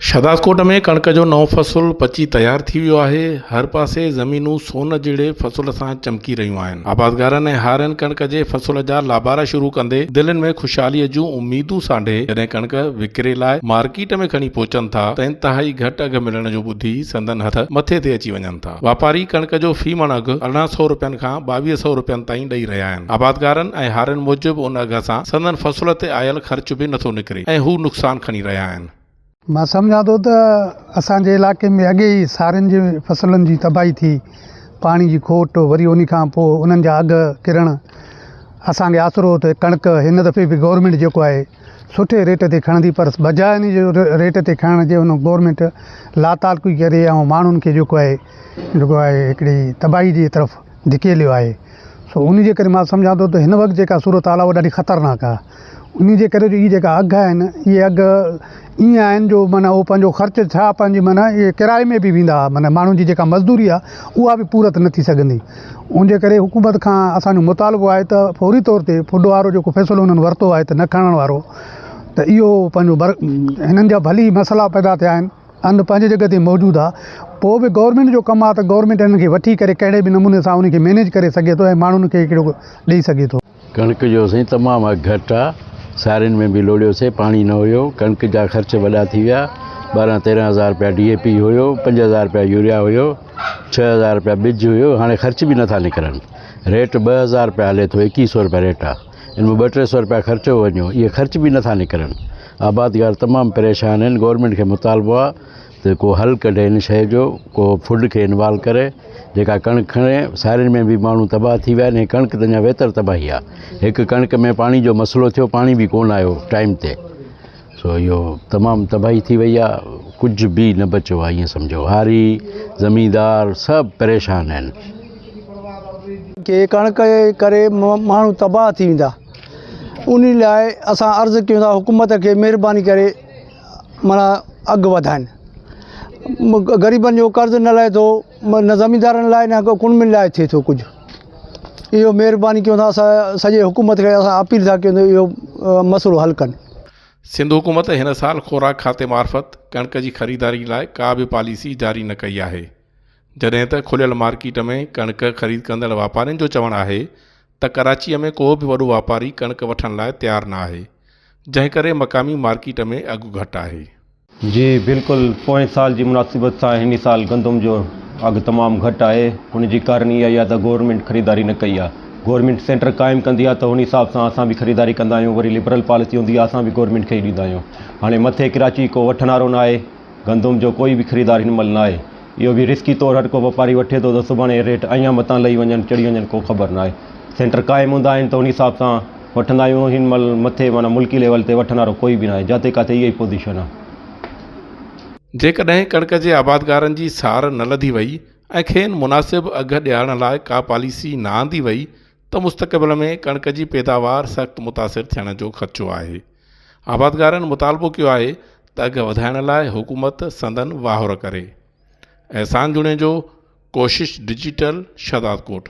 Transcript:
شهدادڪوٽ ۾ ڪڻڪ جو نئون فصل پچي تيار ٿي ويو آهي، هر پاسي زمينون سون جهڙي فصل سان چمڪي رهيون آهن، آبادگارن ۽ هارين ڪڻڪ جي فصل جا لابارا شروع ڪندي دلين ۾ خوشحاليء جون اميدون سانڍي جڏهن ڪڻڪ وڪري لاء مارڪيٽ ۾ کڻي پهچن ٿا ته انتهائي گهٽ اگهه ملڻ جو ٻڌي سندن هٿ مٿي تي اچي وڃن ڪن ٿا. واپاري ڪڻڪ جو في مڻ اگهه ارڙهن سئو رپين کان ٻاويهه سئو رپين تائين ڏئي رهيا آهن. آبادگارن ۽ هارين موجب ان اگهه سان سندن فصل تي آيل خرچ به نٿو نڪري ۽ هو نقصان کڻي رهيا آهن. مان سمجهان ٿو ته اسان جي علائقي ۾ اڳي ئي سارين جي فصلن جي تباهي ٿي، پاڻي جي کوٽ وري انهي کان پوء انهن جا اگهه ڪرڻ اسان کي آسرو ته ڪڻڪ هن دفعي به گورنمينٽ جيڪو آهي، سٺي ريٽ تي کڻندي پر بجاء ان جي ريٽ تي کڻڻ جي ان گورمينٽ لاتعلقي ڪري ۽ ماڻهن کي جيڪو آهي جيڪو آهي هڪڙي تباهي جي طرف ڌڪيليو آهي سو ان جي ڪري مان سمجهان ٿو ته هن وقت جيڪا صورتحال آهي اها ڏاڍي خطرناڪ آهي ان جي ڪري جي هي جيڪا اگهه آهن اهي اگهه ائين آهن جو معنيٰ هو پنهنجو خرچ ڇا پنهنجي معنيٰ ڪرائي ۾ به ويندا ها معنيٰ ماڻهن جي جيڪا مزدوري آهي اها به پورت نه ٿي سگهندي ان جي ڪري حڪومت کان اسان جو مطالبو آهي ته فوري طور تي فوڊ وارو جيڪو فيصلو انهن ورتو آهي ته نه کڻڻ وارو ته اهو پنهنجو بر هنن جا ڀلي مسئلا پيدا ٿيا آهن ان پنهنجي جڳهه تي موجود آهي پوء به گورنمينٽ جو ڪم آهي ته گورنمينٽ انهن کي وٺي ڪري ڪهڙي به نموني سان ان کي مينيج ڪري سگهي ٿو ۽ ماڻهن کي هڪڙو ڏئي سگهي ٿو ڪڻڪ جو سائين تمام اگھ گھٽ آ سارين ۾ به لوڙيو سي پاڻي نه هيو ڪڻڪ جا خرچ وڏا ٿي ويا ٻارهن تيرهن هزار روپيا ڊي اي پي هيو پنج هزار روپيا يوريا هيو ڇهه هزار روپيا ٻج هيو هاڻي خرچ به نٿا نڪرن ريٽ ٻه هزار روپيا هلي ٿو ايڪيهه سو روپيا ريٽ آ ان ۾ ٻه ٽي سو روپيا خرچو وڃو اهي خرچ به نٿا نڪرن آبادگار تمام پريشان آهن گورنمينٽ کي مطالبو آ ته ڪو حل ڪڍي ان شيء جو ڪو فوڊ کي انوالو ڪري جيڪا ڪڻڪ کڻي سارين ۾ به ماڻهو تباهه ٿي ويا آهن ڪڻڪ ته اڃا ويتر تباهي آهي هڪ ڪڻڪ ۾ پاڻي جو مسئلو ٿيو پاڻي به ڪونه آيو ٽائيم تي سو اهو تمام تباهي ٿي وئي آهي ڪجهه به نه بچيو آهي ائين سمجهو هاري زميندار سڀ پريشان آهن جي ڪڻڪ جي ڪري ماڻهو تباهه ٿي ويندا ان لاء اسان عرض ڪيون ٿا حڪومت کي مهرباني ڪري معنيٰ اڳ وڌائن غريبن جو قرض نه لهي ٿو نه زميندارن لاء نه ڪو ڪنبن لاء ٿئي ٿو ڪجهه اهو مهرباني ڪيو تھان سا سڄي حڪومت کي اسان اپيل ٿا ڪيون اهو مسئلو حل ڪن سنڌ حڪومت هن سال خوراڪ کاتي معرفت ڪڻڪ جي خريداري لاء ڪا به پاليسي جاري نه ڪئي آهي جڏهن ته کليل مارڪيٽ ۾ ڪڻڪ خريد ڪندڙ واپارين جو چوڻ آهي ته ڪراچيء ۾ ڪو به وڏو واپاري ڪڻڪ وٺڻ لاء تيار نه آهي، جنهن ڪري مقامي مارڪيٽ ۾ اگهه گهٽ آهي. جي بلڪل پوئين سال جي مناسبت سان هن سال گندم جو اگهه تمام گهٽ آهي، ان جي ڪارڻ اهو ئي آهي ته گورنمينٽ خريداري نه ڪئي آهي. گورنمينٽ سينٽر قائم ڪندي آهي ته ان حساب سان اسان به خريداري ڪندا آهيون، وري لبرل پاليسي هوندي آهي اسان به گورنمينٽ کي ئي ڏيندا آهيون. هاڻي مٿي ڪراچي ڪو وٺڻهارو نه آهي، گندم جو ڪوئي به خريدار هن مهل نه آهي. اهو به رسڪي طور هرڪو واپاري وٺي ٿو ته سڀاڻي ريٽ اڃان مٿان لهي وڃن چڙهي وڃن ڪو خبر نه آهي سينٽر قائم هوندا آهن ته ان حساب سان وٺندا آهيون هن مهل مٿي معنيٰ ملڪي ليول تي وٺڻ وارو ڪوئي به نه آهي جاتي ڪاٿي اها ئي پوزيشن آهي. جيڪڏهن ڪڻڪ جي آبادگارن جي سار نه لڌي وئي ۽ کين مناسب اگهه ڏيارڻ لاء ڪا پاليسي نه آندي وئي ته مستقبل ۾ ڪڻڪ جي پيداوار سخت متاثر ٿيڻ جو خدشو آهي. آبادگارن مطالبو ڪيو آهي ته اگهه وڌائڻ لاء حڪومت سندن واهر ڪري. احسان جوڻيجو ڪوشش ڊجيٽل شهدادڪوٽ.